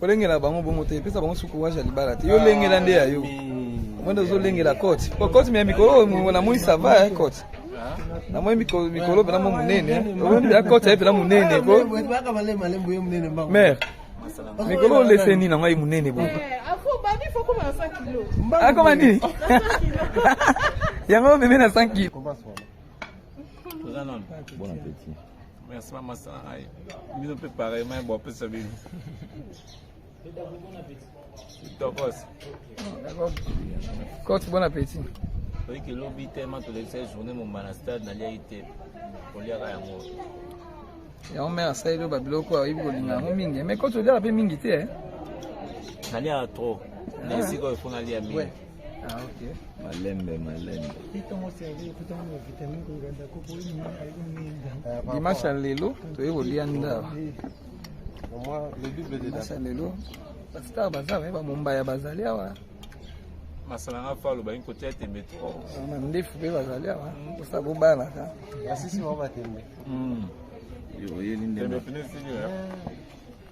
kolengela bango bongo te epesa bango suku waje ya libala te yo lengela nde ya yo omwende ozolengela cote po cote mea mikolo namoni sava cote namoni mikolo mpena mo monene omwendea cote aye mpena monene ko mare mikolo oleseni nango aye monene bo akoma nini yango omeme na 100 kilo Bon appétit. Merci maman Sarai. Bino mpe pareil mai bo apesa bino. Tokos. Coach bon appétit. Oyi ke lobi tellement tolekisa journée momba na stade naliaki te oliaka yango yango mare asali loba biloko oyebi kolinga yango mingi eh. mais coach oliaka mpe mingi te eh. naliaka trop na esika oyo fo nalia mingi Ah, okay. Malembe, malembe. Dimanche ya lelo toye kolia ndawa. Dimanche ya lelo bastar baza me bamombaya bazali awa masalanga falo balingi kotia tembe trop na ndefu mpe bazali awa osa bobalaka basisi mao batembe oyeli ndembe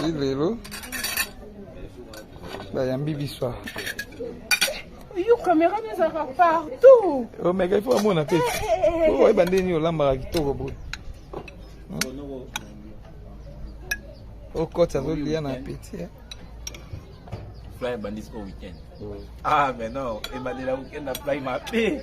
Hii lelo bayambi biswa yo kamera ezalaka partout omeka ifo amona te oyeba nde nini olambaka kitoko boye okoti azoliya na apeti fly ebandisi o weekend ah mais non ebandela weekend na fly mabe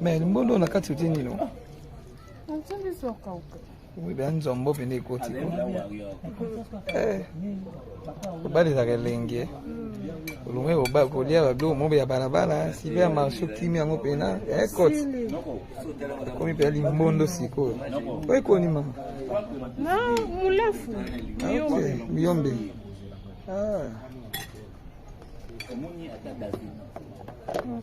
Mais mbondo na kati otie nini? Nzambe sio kauka. Oui, ben nzombo pende ekoti. Eh. Obali za kelenge. Hmm. Olunge oba kolia ba bio mobe ya balabala, sibe ya marché kimi yango pena. Eh kot. Komi pe ali mbondo siko. Oye koni mama. Na mulafu. Miyombe. Ah, Miyombe. Ah. Omoni ata David. Hmm.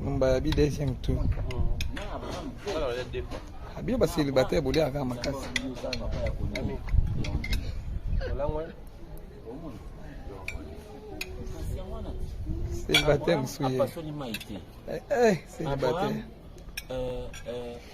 Numba ya bi deuxième tour. Alors il y a deux fois. Abio ba célibataire boli aka makasi. Olangwe. Célibataire musuye. Eh eh célibataire. Euh euh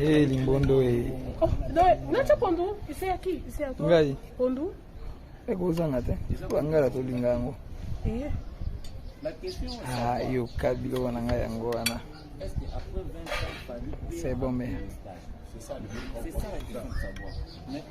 Eh, limbondo eh. Oh, nacha pondu ise ya ki ise ya to ngai pondu ekozanga eh, te bangala tolinga yango eh. ah yo kabi oyo na ngai yango wana c'est bon mais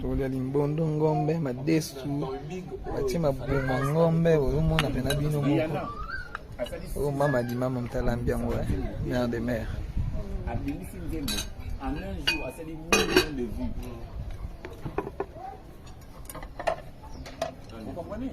tolia limbondo ngombe madesu batie mabuma ngombe oyomona mpena bino moko oyo mama di mama mtalambi yango eh. mère de mère en un jour asali million de vues vous comprenez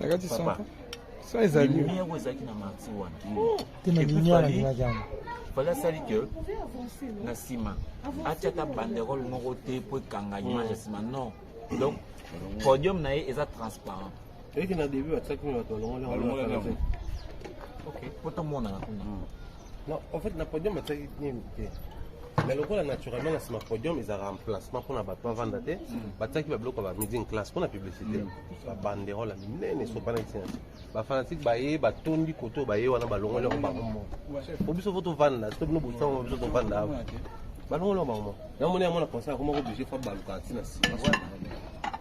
na kati santa sa ezali yango ezalaki na marti wana fali asali ke na nsima atiaka banderole moko te mpo ekanga image ya nsima non donc podium na ye eza transparent eki na début batiaki bato balongoli yango po tomonana kuna Non, en fait, na podium atyaki nini te mais lokola naturellement na nsima podium ezalaka emplacement mpona bato bavanda te batyaki babiloko ya bamidi en classe mpona publicité babanderole ya minene esopanaki na bafanatike baye batondi kote oyo baye wana balongoli yango bango moko po biso fo tovanda siko bino bosango biso tovanda awa balongoli yango bango moko namoni yango na conseil yango moko oblige fo baluka ntina nsima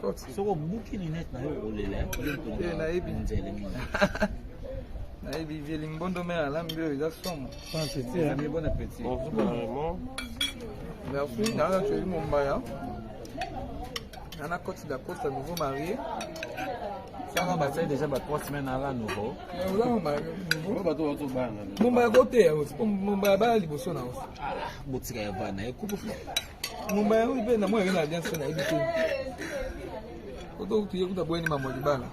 soki obuki linete na yo olela nayebi nzele nayebi vie limbondo mere alambi oyo eza somo bon appétit merci naza toyebi mombaya nana koti da costa nouveau marié sanga basali déjà ba trois semaines ala nouveau mombaya koteya mombaya baya liboso na osi botika ya bana ekukufa ngomba yango mpe na mwana na alliance mpe nayebi te koto tuye kuta boyani mambo ya libala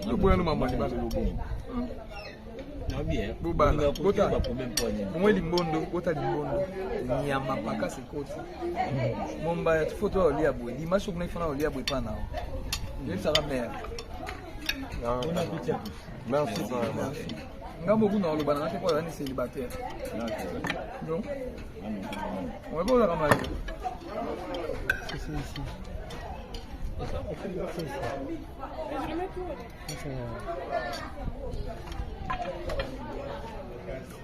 loboyano mambo ya libala lobongo bobala bota omwe limbondo bota limbondo nyama makasi ekoti momba ya foto ya olia boye dimashe okuna ifana olia boye pana o yebisaka mere merci nga moku na oloba nanga te mpo azali célibataire donc oyebi olaka maye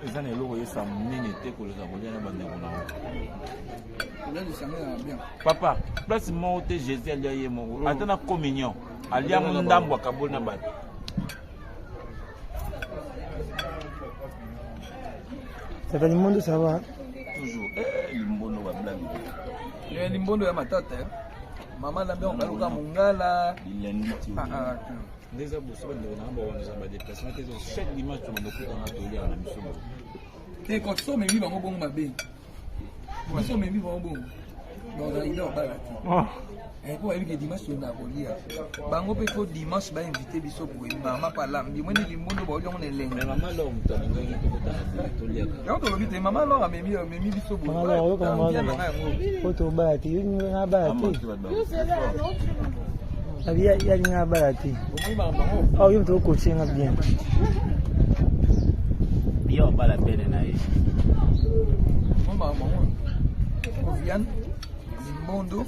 eza na eloko yesa monene te koleka kolia na bandeko na yo papa place moko te jésus alia ye moko ata na communion alia mo ndambo akaboli na bato Tata Limbondo ça va Toujours. Eh, Limbondo wa blague. Le Limbondo ya matata. Eh? Maman la bien baluka mungala. Bilendi tu. Ah ah. Ndeza boso ba ndona ba wana za ba déplacement te chaque dimanche tu mando ko na toli na biso. Te ko so me biba ngo bongo mabe. biso omemi bango bongo baozalaki na obala te ah. eh, po bayebi ke dimanche toyenda kolia bango mpe fo dimanche bainvite biso boye mama palambi mweni limbondo baoli yango na elengi yango tolobi te mama lor amemi biso boyeanga yango po tobala te nabala te abi yalinga abala te aw yo moto okotie nga bien yo abala bene na ye oviane limbondo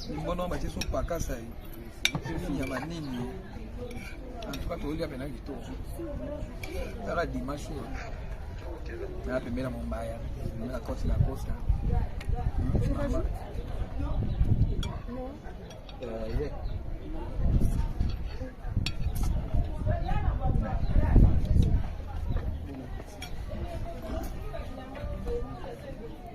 limbondo batie so pakasa ye nyama nini antuka tolia pena kitoko kaka dimanche oyo na pembela mombaya na cote la costa Thank you.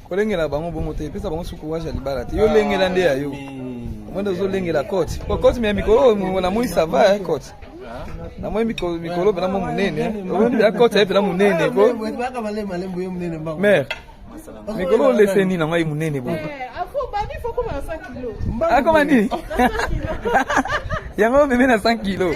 kolengela bango bongo te epesa bango suku waje ya libala te yo lengela nde ya yo omwende ozolengela cote po cote me ya mikolo namoni sava cote namoni mikolo mpena mo monene omoni ya cote aye mpena monene ko mare mikolo oleseni na ngai monene bo akoma nini yango omeme na 100 kilo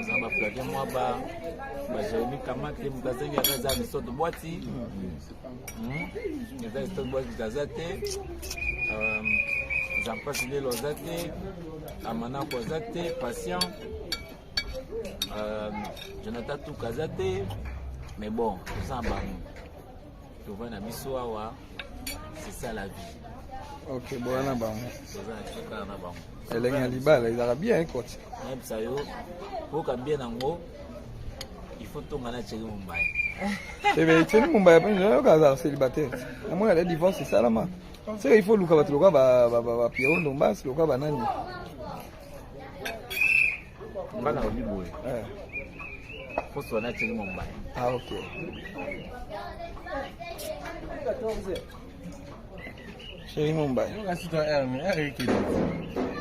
oza baplake mwa ba bajeremi kamate moto azangi aka eza aristote bwati eza aristote bwati moto aza te zampasi lelo aza te amanako aza te patient jonathan tuka aza te mais bon toza na bango Tova na biso awa c'est ça la vie. Ok, bola na bango. Toza na kika na bango. Elengi ya libala ezalaka bien hein, coach. Nayebisa yo koyoka bien nango il faut tonga na Thierry Mumbai. Ebe eh Thierry Mumbai apeni nayoka azala célibataire. Namoni ala divorce esalama. Seke il faut luka bato lokola ba Pierrot Ndombas lokola banani. nga nalobi boye eh. poso wana atiki mombaya ah, ok chéri mombaya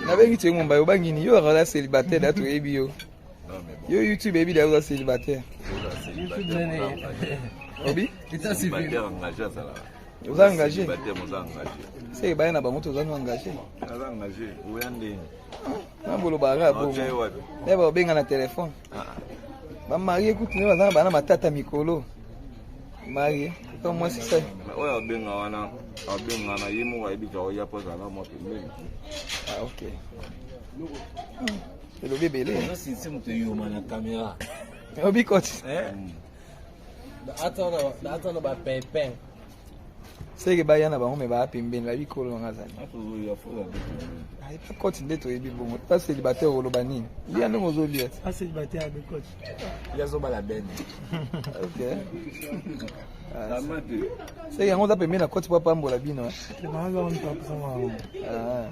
nabengi chéri mombaya obangi ni yo akoza célibataire da toyebi yo yo youtube eyebi da oza célibataire obi oza engage seke baya na bango toza no engage na boloba kaka bongo ya baobenga na telefone ah, ah. bamarie kutu nde baza na bana matata mikolo marie to mwasi sai oyo abenga wana abenga na ye moko ayebi kao ya mposa na mwa pembeni ah, ok elobi ebele obi koti eh? atana ba pepin seke baya na bango me baya pembeni bayebi kolo nanga azali bacote nde toyebi bongo ta célibataire oloba nini lia ndenge ozolia yazobala bene seke yango oza pembeni na cote po apambola bino eh? ah.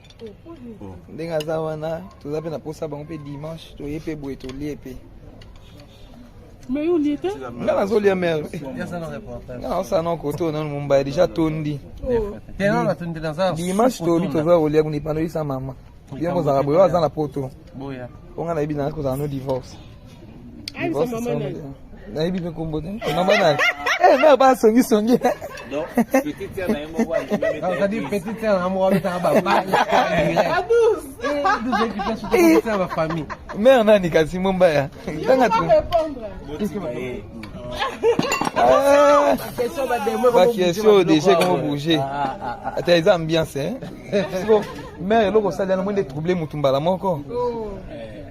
ndenge aza wana toza mpe na posa bango mpe dimanche toye mpe boye tolie mpe Mais on y était Nga na zoli ya mère. Nga na osana na kote ona mumba ya deja tondi. Oh. Tena na tondi na za. Dimanche tobi toza kolia kuni pano isa mama. Yango zaka boyo aza na poto. Boya. Onga na yebi na kozala no divorce. nayebi mpe kombo te mama na eh, mare bana songisongi ozali petit sere na moko abetaka babafamille mare nani kasi mombaya tanga tu bakestion deja ekomo bouge ata eza ambiance mare eloko osali yango mwende trouble motu mbala moko oh.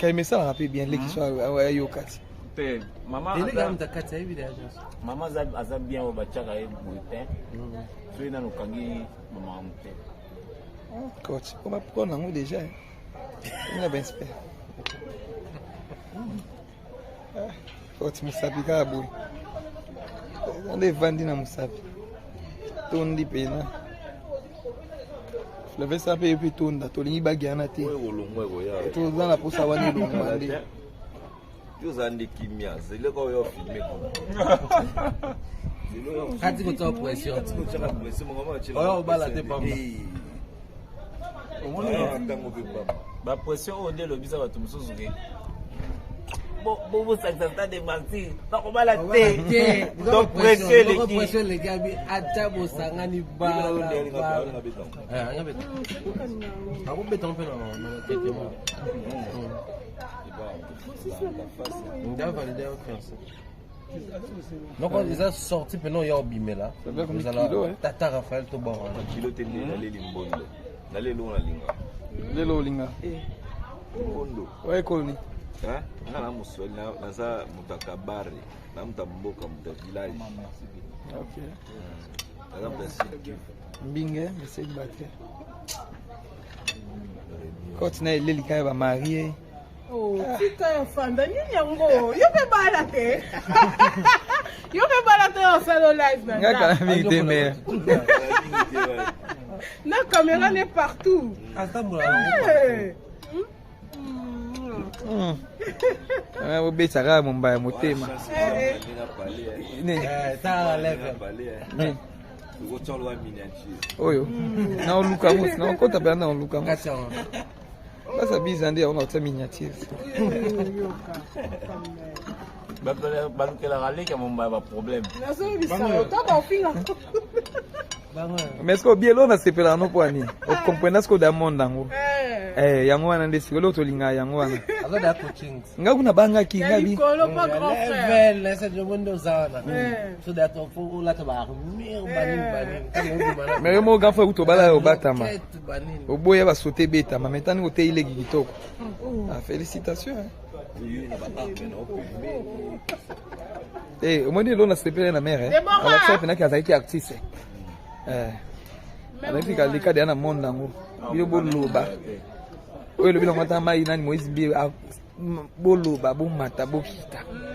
Kaime esalaka mpe bien leki so ayoka ti te mama aza bien oyo batiaka ye boye te soki nanu okangi mama yango te coach obaprone yango déjà na bainspere Eh, oti mosapi kaka boye eza nde evandi na mosapi tondi mpena flavesa mpe epi tonda tolingi bagiana te toza na mposa wana elongwa nde toza nde kimia zeleka oyo filme kuna kati kotia pression oyo obala te pamba ba pression oyo nde elobisa bato mosusu ke bobosakisa stade martir bakobala te donc pression eleki ata bosangani balabakobeta mpe na Dá validade ao alcance. Donc on les a sortis pendant hier au Bimela. Nous allons hein. Tata Raphaël Tobar. Kilo hein. tende na leli mbondo. Na lelo na linga. Lelo linga. Eh. Mbondo. Ouais koloni. Hein? Na na muswali na na za mutakabare. Na mutamboka muta village. OK. Na na pasi. Mbinge, c'est une batterie. Quand on a les cas va marier Oh, tika ya fanda nini yango yo mpe bala te yo mpe bala te osalo live na nga kala mingi te mere na kamera ne partout obetisa kaka momba ya motema oyo naoluka mosi naokota mpenza naoluka mosi Basa biza nde yango nakotia miniatures. balukelaka leki ya mombaya baproblème mais sikoyo bielo nasepelaka no mpo ani okomprena sikoyo damonde yango eh, yango wana nde sikoyo eloko tolingaka yango wana nga kuna bangaki ngabi mais yo moko grand frère kutobalaya obatama oboya basote ebetama metani koteyi leki kitoko oh. ah, félicitation eh, omoni elo nasepele na mere eh? alakisa ah. penaki azalaki artiste eh. azalaki kalika deya na monde nango bino boloba oyo elobi nango ata mai nani moise mbi boloba bomata bokita mm.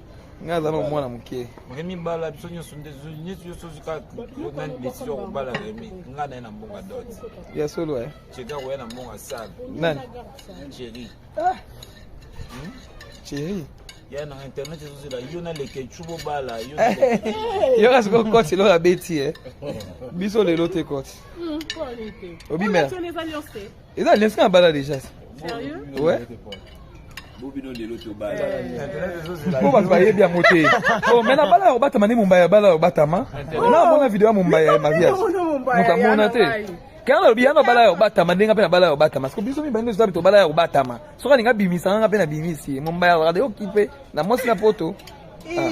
nga aza na mwana moke remi bala biso nyonso nyonso nyonso ozwi kaka desizio kobala remi nga naye na mbonga dot ya solo e cheka koya na mbonga sale nani cheri ah. hmm? cheri ya na internet ezozela yo na lekechu bobala yo kasi ko koti lola beti e biso lelo te koti hmm, obimela eza lensi na bala deja ouais bobino lelo tobala po bato bayebi yango te me na bala ya kobatama nde mombaya ya bala ya kobatama na amona video ya mombaya ya mariage moto amona te kena nalobi yana bala ya kobatama ndenge mpe na bala ya kobatama siko biso mibale nde to bala ya kobatama soki alinga bimisa nga mpe na bimisi mombaya azalaka de okipe na mwasi na poto ah.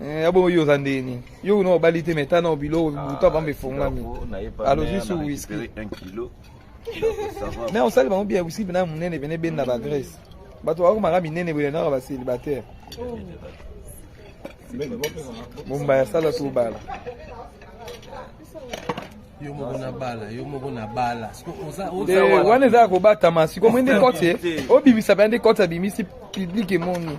Eh, ya bongo yo oza nde nini yo kuna obali te meta na biloko ah, buta bambe efongami alozi su wiski mais osali bango bia wiski mpena monene pene ebeni na bagrèce bato bakomaka minene boye naka bacélibataire bomba ya sala to bala yo moko na bala yo moko na bala eh, wana eza ya kobatama sikoyo mwe nde kote obimisa mpe nde kote abimisi publike emoni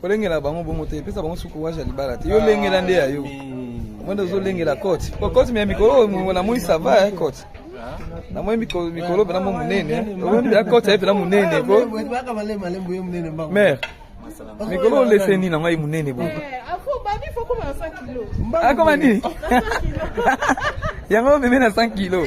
kolengela bango bongo te epesa bango suku waje ya libala te yo lengela nde ya yo omwende ozolengela cote po cote mea mikolo namoni sava ya cote namoni mikolo mpena mo monene omoni mpena cote aye mpena monene po mare mikolo oleseni na ngai monene bo akoma nini yango omeme na 100 kilo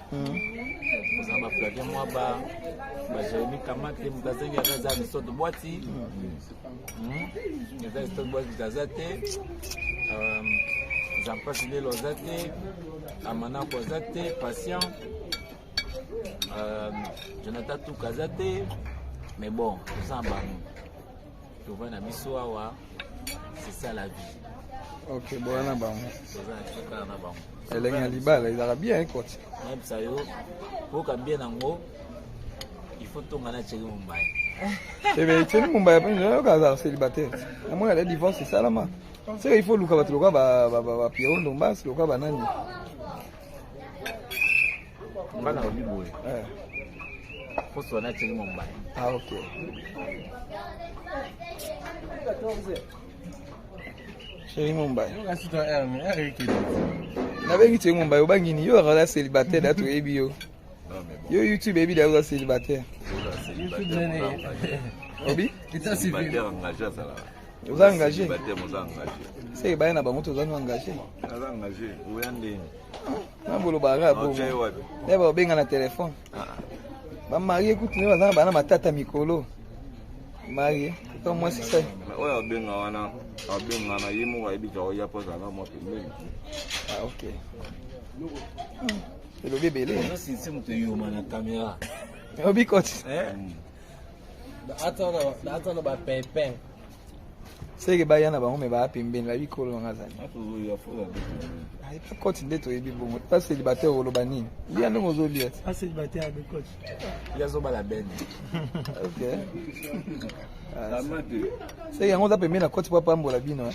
oza ba flavien mwa ba ba jeremi kamate moto azangi aka eza aristote bwati eza aristote bwati moto aza te zampasi lelo aza te amanako aza te patient jonathan tuka aza te mais bon toza na bango Tova na biso awa c'est ça la vie. Ok, bola na bango. Toza na biso kaka na bango. Elengi ya libala ezalaka bien hein, coach. Nayebisa yo koyoka bien nango il faut tonga na Thierry Mombaya. Ebe eh Thierry Mombaya mpe nayoka azala célibataire. Namoni ala divorce esalama. Seke il faut luka bato lokola ba Pierrot Ndombas lokola banani. nga na lobi boye eh. poso wana atiki mombaya ah, ok chéri mombaya nabengi chéri mombaya obangi ni yo akola célibataire atoyebi yo Yo YouTube ebi da oza célibataire. YouTube nene. Obi? Kita civil. Oza engagé. C'est baye na bango toza no engagé. Oza engagé. Oya ndenge. Na bolo bara bo. Ne ba benga na téléphone. Ah, ah. Ba marié kutu ne baza bana matata mikolo. Marié. Comme moi c'est ça. Oya abenga wana. Abenga na yemo wa ebika oya posa na moi pembeni. Ah OK. Hmm. elobi ebele obi koti atana bapepin seke baya na bango me baya pembeni bayebi kolo nanga azali bakoti nde toyebi bongo pa célibataire oloba nini lia ndenge ozolia yazobala bene seke yango oza pembeni na koti po apambola bino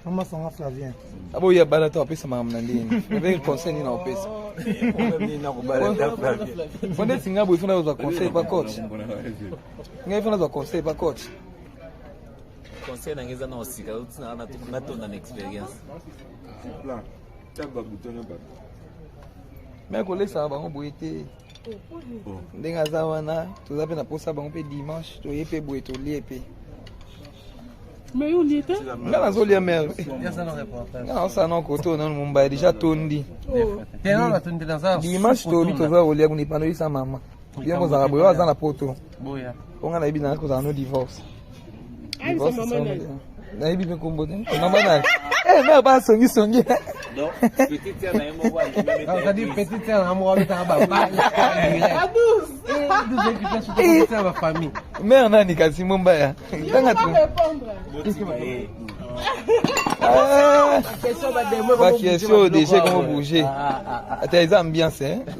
Mama Sanga Flavien. Abo ya bala to apesa makambo na ndenge. Avec conseil nini opesa? Bonde singa bo ifuna za conseil pa coach. Ngai ifuna za conseil pa coach. Conseil na ngeza na osika, utsina na na tonda na experience. Plan. Taba butona ba. Mais kolesa bango boye te. ndenge aza wana toza mpe na posa bango mpe dimanche toye mpe boye tolie mpe Mais yo olie te nga nazolia mere nga naosala na kote oyo nanu mombaye deja tondi dimanche tobi toza kolia kuna epanoyisa mama yo mozalaka boye oyo aza na poto boya onga nayebi na kozala no divorce nayebi mpe kombo te mama na eh, mare basongi songi ozali petite sere na moko abetaka bafamille mare nani kasi mombaya tanga bakesho deja ekomo bouge ata eza ambiance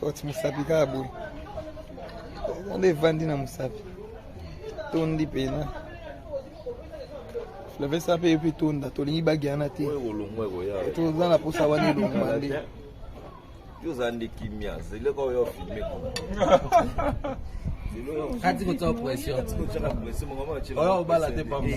Fort musapi kaka boye wana evandi na musapi tondi pena flavesa mpe yo mpe tonda tolingi bagi wana te toza na mposa wana elongwa nde yo oza nde kimia zeleka oyo ofilme kati kotia pression oyo obala te pamba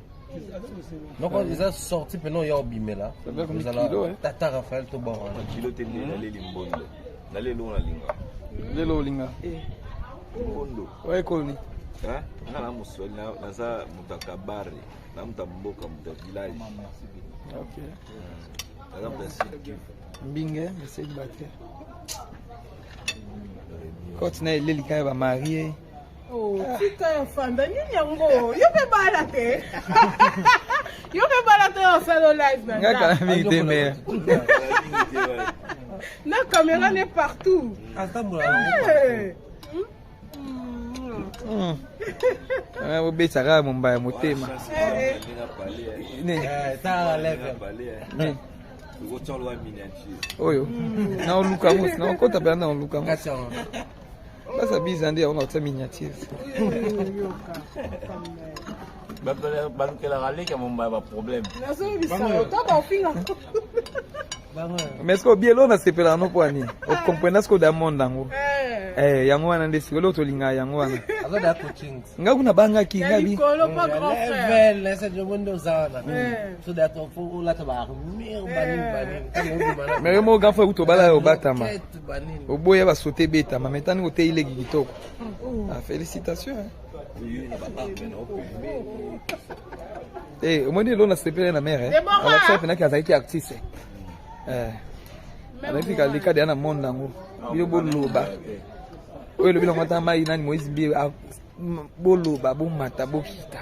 noko eza sorti mpena oya obimela ozala tata rafael to bawana kilo te nde naleli mbondo naleli oyo nalinga lelo olinga eh. mbondo oyekoloni nga na moswali naza moto ya kabare na moto ya mboka moto ya village naza moto ya sud kivu mbinge eseli bate kote na elelika ya bamarie Oh, tika ya fanda nini yango yo mpe bala te yo mpe bala te osalo live na nga kala mingi te meya na kamera ne partout obetisa kaka momba ya motema oyo naoluka mosi naokota mpenza naoluka mosi baza biza nde yango nakotia miniature balukelaka leki ya mombaya baproblème mais sikoyo bielo nasepelaka no mpo ani okomprena sikoyo damond yango eh. eh, yango wana nde sikoyo eloko tolingaka yango wana nga kuna bangaki ngabi mais yo moko grand frère kutu obala yo obatama oboya basote ebetama metani koteyi leki kitoko oh. ah, félicitation eh, omoni elo nasepele na mere alakisa penaki azalaki artiste eh. alakisi kalika deya na monde nango bino boloba oyo elobi nango ata mai nani moise mbi boloba bomata bokita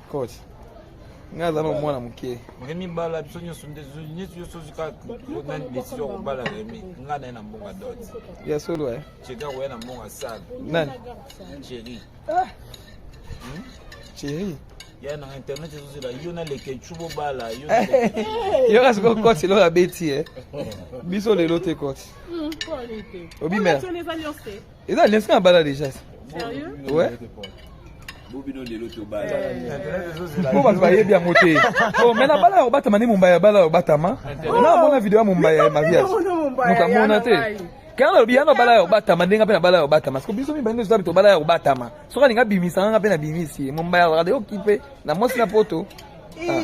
coach nga aza na mwana moke remi bala biso nyonso nyonso nyonso ozi kaka nani desizio kobala remi nga naye na mbonga dot ya solo e cheka koya na mbonga sale nani cheri ah. hmm? cheri ya na internet ezozela yo na leke chu bobala yo kasi ko coach eloko abeti e biso lelo te coach hmm, obimela eza lenska na bala deja ouais bobino lelo tobala po bato bayebi yango te oh, me nabala ya kobatama nde mombaya abala ya kobatama na amona video ya mombaya ya mariage moto amona te kana nalobi yana bala ya kobatama ndenge mpe na bala ya kobatama siko biso mibale nde toza bito bala ya kobatama soki alinga abimisa nga mpe nabimisi ye mombaya azalaka de okipe na mwasi na poto ah.